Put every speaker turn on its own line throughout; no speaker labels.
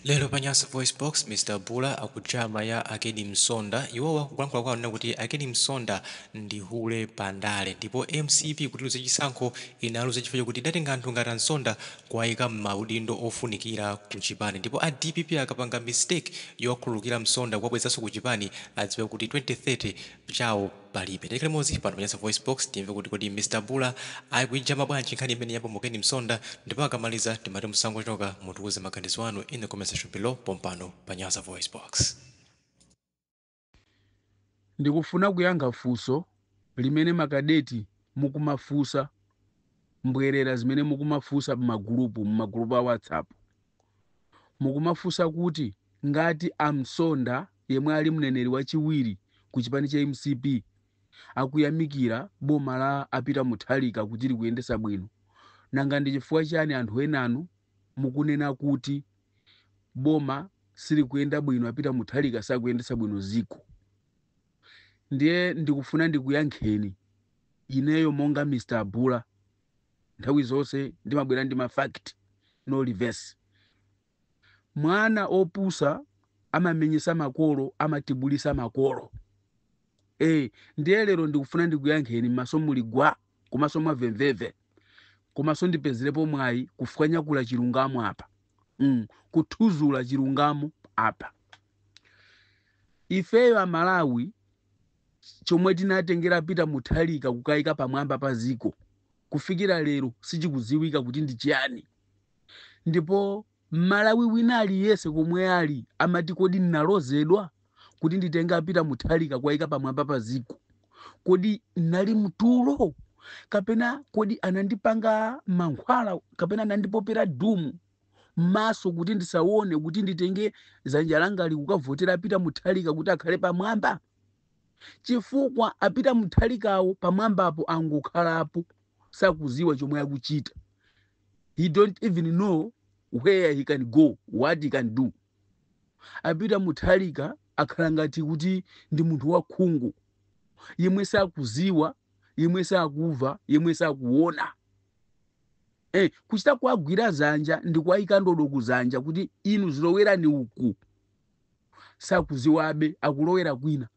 Lero pa Nyasa VoiceBox, Mr Bula akujama ya a Ken Msonda. Iwowa kulankhula kwawo anena kuti a Ken Msonda ndi hule pa ndale ndipo mcp kuti iluze chisankho inaluza chifukwa chokuti idatenga anthu ngati a Msonda kuwaika m'maudindo ofunikira ku chipani ndipo a dpp akapanga mistake yowakhululukira Msonda kuwabwezanso ku chipani adziwe kuti 2030 chawo palibe. Tikhale limodzi pano pa Nyasa VoiceBox timve kuti kodi Mr Bula akuijama bwanji nkhani imeneyi ya bambo Ken Msonda ndipo akamaliza timati musangochoka, mutiuze maganizo anu in the comment section below pompano pa Nyasa VoiceBox.
Ndikufuna kuyankha funso limene ma kadeti mukumafunsa mbwerera zimene mukumafunsa mmagulupu mmagulupu a WhatsApp. Mukumafunsa kuti ngati a Msonda yemwe ali mneneri wachiwiri ku chipani cha mcp akuyamikira boma la a Peter Mutharika kuti likuyendetsa bwino, nanga ndi chifukwa chiyani anthu enanu mukunena kuti boma silikuyenda bwino, a Peter Mutharika sakuyendetsa bwino dziko? Ndiye ndikufuna ndikuyankheni ineyo monga Mr Bula. nthawi zonse ndimabwera ndi ma fact no reverse mwana wopusa amamenyesa makolo amatibulisa makolo eh ndiye lero ndikufuna ndikuyankheni maso muli gwa komanso mwamvemvemve komanso ndipezerepo mwayi kufwanyakula chilungamo apa mm, kuthuzula chilungamo apa ifeyo amalawi Chomwe tinatengera a Peter Mutharika kukawaika pamwamba pa dziko kufikira lero sichikudziwika kuti ndi chiyani. Ndipo Mmalawi wina aliyense komwe ali amati kodi ndinalozedwa kuti nditenge a Peter Mutharika kuwaika pamwamba pa dziko? Kodi ndinali mtulo? Kapena kodi anandipanga mankhwala kapena anandipopera dumu? m'maso kuti ndisaone kuti nditenge dzanja langali kukavotera a Peter Mutharika kuti akhale pamwamba chifukwa a Peter Mutharikawo pamwambapo angokhalapo sakuziwa chomwe akuchita he don't even know where he can go what he can do a Peter Mutharika akhala ngati kuti ndi munthu wakhungu yemwe sakuziwa yemwe sakuva yemwe sakuona Eh, kuchita kuwagwira zanja ndi kuwayika ndodo kuzanja kuti inu zilowerani uku sakuziwabe akulowera kwina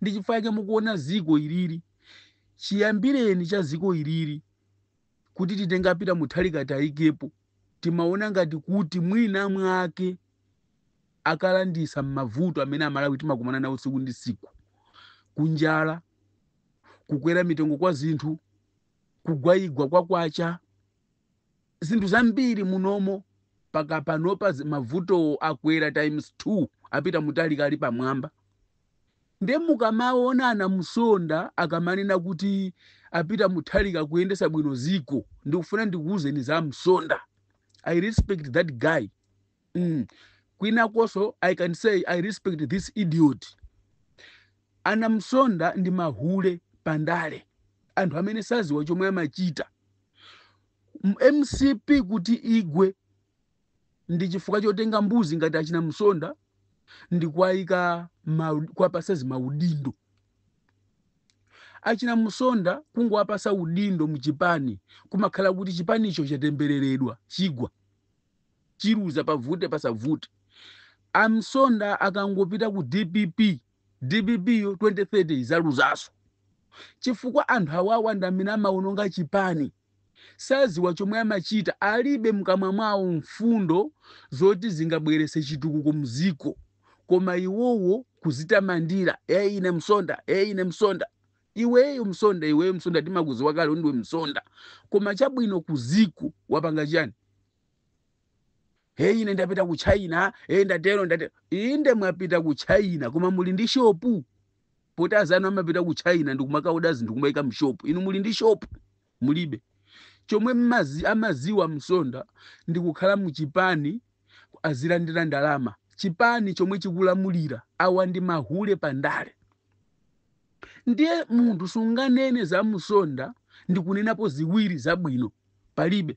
ndi chifukwa chake mukuona ziko ilili chiyambireni cha ziko ilili kuti titenge a Peter Mutharika tiwayikepo timaona ngati kuti mwina mwake akalanditsa m'mavuto amene amalawi timakumana nawo tsiku ndi tsiku kunjala kukwera mitengo kwa zinthu kugwaigwa kwa kwacha zinthu zambiri munomo mpaka panopa zi- mavuto akwera times 2 a Peter Mutharika ali pamwamba nde mukamaona ana Msonda akamanena kuti a Peter Mutharika akuyendesa bwino ziko ndikufuna ndikuwuzeni za msonda i respect that guy mm. kwinakonso i can say i respect this idiot ana Msonda ndi mahule pandale anthu amene saziwa chomwe amachita M- mcp kuti igwe ndi chifukwa chotenga mbuzi ngati achina msonda ndi kuwaika mau- kuwapasa zimaudindo achina msonda kungowapasa udindo mchipani kumakhala kuti chipanicho chatembereredwa chigwa Chiluza pavute pasavute a Msonda akangopita ku dpp, dpp yo 2030 izaluzanso chifukwa anthu awawa ndamene amaononga chipani saziwa chomwe amachita alibe mkamwa mwawo mfundo zoti zingabwerese chitukuko mziko koma iwowo kuzitamandira ee ine Msonda ee ine Msonda Iweyo msonda iweyo msonda timakuziwa kale kuti ndiwe msonda koma chabwino kuziko wapanga chani heyi ine ndapita ku china e ndatero ndatero inde mwapita ku china koma muli ndi shopu poti azanu amapita ku china ndikumakaoda zinthu kumaika mshopu inu muli ndi shopu mulibe. Chomwe mmazi, amaziwa a Msonda ndi kukhala mu chipani azilandira ndalama. Chipani chomwe chikulamulira. Awa ndi mahule pa ndale. Ndiye munthu sunganene za Msonda ndi kunenapo ziwiri zabwino. Palibe.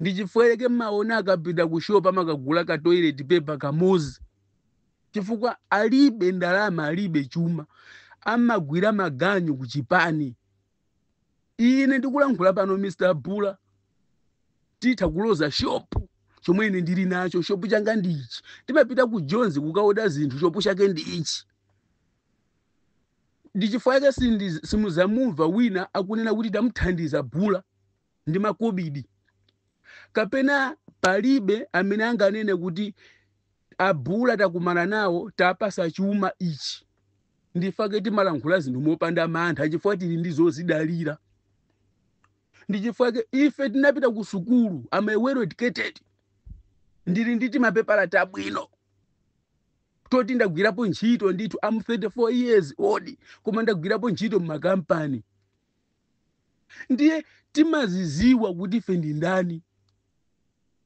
ndichifukwa chake mmaona akapita ku shop amakagula ka toilet paper kamozi chifukwa alibe ndalama alibe chuma amagwira maganyu ku chipani ine ndikulankhula pano mr bula titha kuloza shopu chomwe ine ndili nacho shopu changa ndi ichi timapita ku Joni kukaoda zinthu shopu chake ndi ichi ndichifukwa chake sindi- simuzamumva wina akunena kuti tamuthandiza bula ndi makobidi, kapena palibe amene anganene kuti abula takumana nawo tawapasa chuma ichi. Ndi chifukwa chake timalankhula zinthu mopanda mantha chifukwa tili ndi zozidalira. Ndi chifukwa chake ife tinapita ku sukulu, am a well educated. Ndili ndi mapepala tabwino toti ndagwirapo ntchito ndithu am 34 years old koma ndagwirapo ntchito m'makampani ndiye timaziziwa kuti ife ndi ndani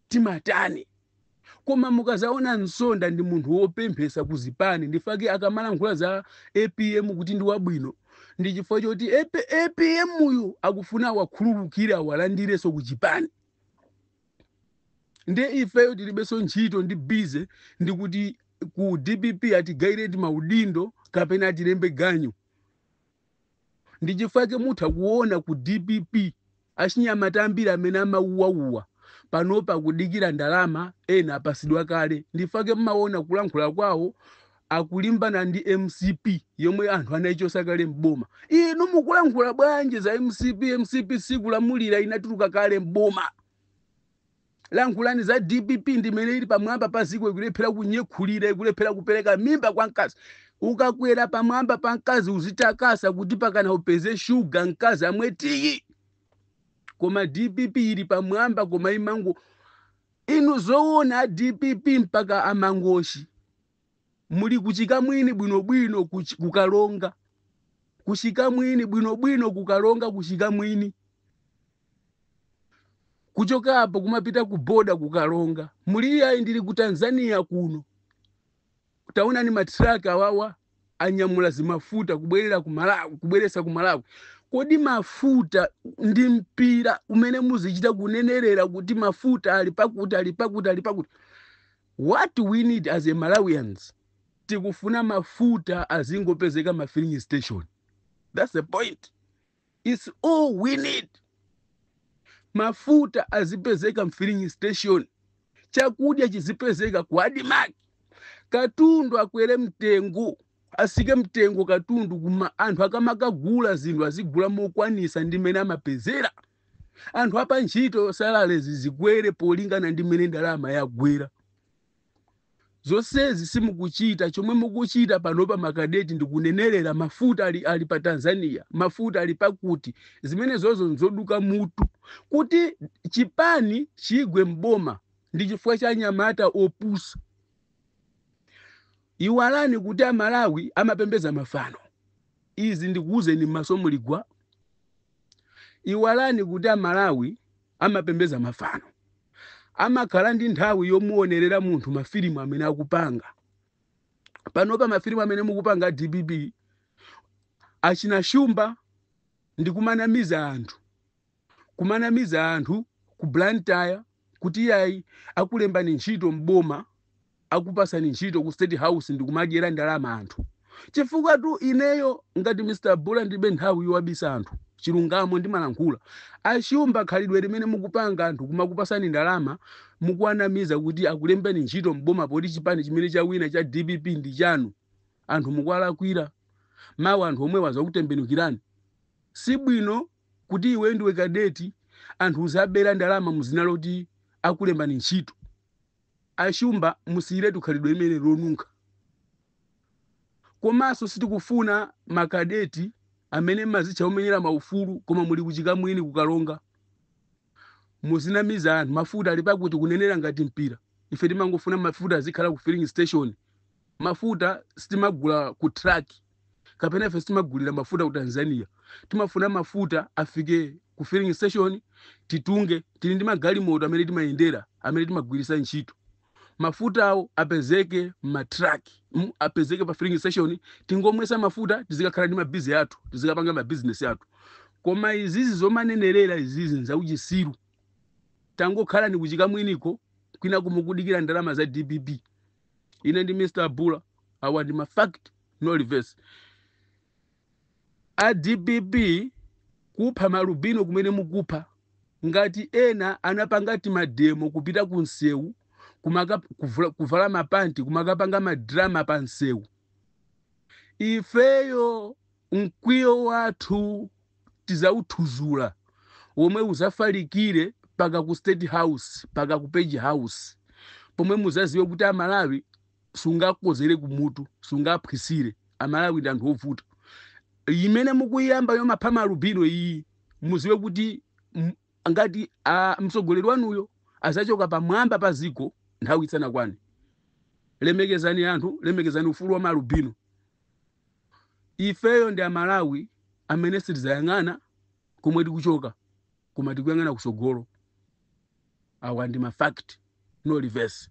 timatani koma mukazaona Msonda ndi munthu wopemphesa ku zipani ndifake akamalankhula za apm kuti ndi wabwino ndi chifukwa choti AP- apm uyu akufuna awakhululukire awalandireso ku chipani nde ifeyo tilibeso ntchito ndi bize ndikuti ku dpp atigayireti maudindo kapena atilembe ganyu ndichifake mutha kuona ku dpp achinyamata ambiri amene amauwauwa panopa akudikira ndalama ena apasidwa kale ndifake mmaona kulankhula kwawo akulimbana ndi mcp yomwe anthu anayichosa kale mboma inu mukulankhula bwanji za mcp mcp sikulamulira inatuluka kale mboma lankhulani za dpp ndimene ili pamwamba pa ziko ikulephera kunyekhulira ikulephera kupereka mimba kwa mkazi ukakwera pamwamba pa mkazi uzitakasa kuti pakana upeze shuga mkazi amwe tiyi koma dpp ili pamwamba koma imango inu zoona dpp mpaka a Mangochi muli kuchikamwini bwinobwino kuch- kukalonga kuchikamwini bwinobwino kukalonga kuchikamwini kuchoka apo kumapita ku boda kukalonga muli iyayi ndili ku tanzania kuno taonani ma truck awawa anyamula zimafuta kubwerera ku malawi kubweresa ku malawi kodi mafuta ndi mpira umene muzichita kunenerera kuti mafuta ali pakuti ali pakuti ali pakuti What we need as a Malawians tikufuna mafuta azingopezeka ma filling station that's the point it's all we need mafuta azipezeka mfilling station chakudya chizipezeka ku admarc katundu akwere mtengo asike mtengo katundu kuma anthu akamakagula zinthu azigula mokwanisa ndi mene amapezera anthu apantchito salalezi zikwere polingana ndi mmene ndalama yagwera zonsezi simukuchita chomwe mukuchita panopa makadeti ndikunenerera mafuta ali pa tanzania mafuta ali pakuti zimenezozo nzoduka mutu kuti chipani chigwe mboma ndi chifukwa cha anyamata opusa iwalani kuti amalawi amapembeza mafano Izi ndikuuzeni mmaso muli gwa. Iwalani kuti a Malawi amapembeza mafano. Amakhala ndi nthawi yomuonerera munthu ma filimu amene akupanga. Panopa ma filimu amene mukupanga a dpp, achina Shumba ndi kumanamiza anthu. kumanamiza anthu ku Blantyre kuti iyayi akulembani ntchito m'boma akupasani ntchito ku state house ndikumadyera ndalama anthu chifukwa tu ineyo ngati mr bula ndibe nthawi yowabisira anthu chilungamo ndimalankhula ashumba khalidwe limene mukupanga anthu kumakupasani ndalama mukuwanamiza kuti akulembani ntchito m'boma poti chipani chimene chawina cha dpp ndi chanu anthu mukuwalakwira mawa anthu omwewa azakutembenukirani si bwino kuti iweyo ndiwe kadeti anthu uziwabera ndalama muzina loti akulembani ntchito ashumba musiyiretu khalidwe limene lonunkha komanso sitikufuna makadeti amene mumazitcha omenyera maufulu koma muli ku Chikamwini ku Karonga muzinamiza anthu mafuta ali pakuti kunenera ngati mpira ife timangofuna mafuta azikhala ku filling station mafuta sitimagula ku truck kapena ife sitimagulira mafuta ku tanzania timafuna mafuta afike ku filling station titunge tili ndi magalimoto amene timayendera amene timagwiritsa ntchito mafutawo apezeke m'matraki mm, apezeke pa filling station tingomwesa mafuta tizikakhala ndi mabizi athu tizikapanga mabizinesi athu koma izizi zomanenerera izizi nzauchisiru tangokhalani ku Chikamwiniko kwinaku mukudikira ndalama za dpp ine ndi mr bula awa ndi mafact no reverse a dpp kupha maalubino kumene mukupha ngati ena anapanga timademo kupita ku msewu kumaka- kuvula- kuvala mapanti kumakapanga madrama pa msewu ifeyo Mkwiyo wathu tizauthuzula omwe uzafalikire paka ku state house paka ku page house pomwe muzaziwe kuti amalawi sungawakozere kumutu sungawaphwisire amalawi ndi anthu ovuta imene mukuyiyamba yomapha maalubino iyi muziwe kuti m- ngati mtsogoleri wanuyo azachoka pamwamba pa ziko nthawi isanakwane lemekezani anthu lemekezani ufulu wa maalubino Ifeyo ndi amalawi amene sitizayang'ana komwe tikuchoka koma tikuyang'ana kusogolo. Awa ndi ma fact no reverse.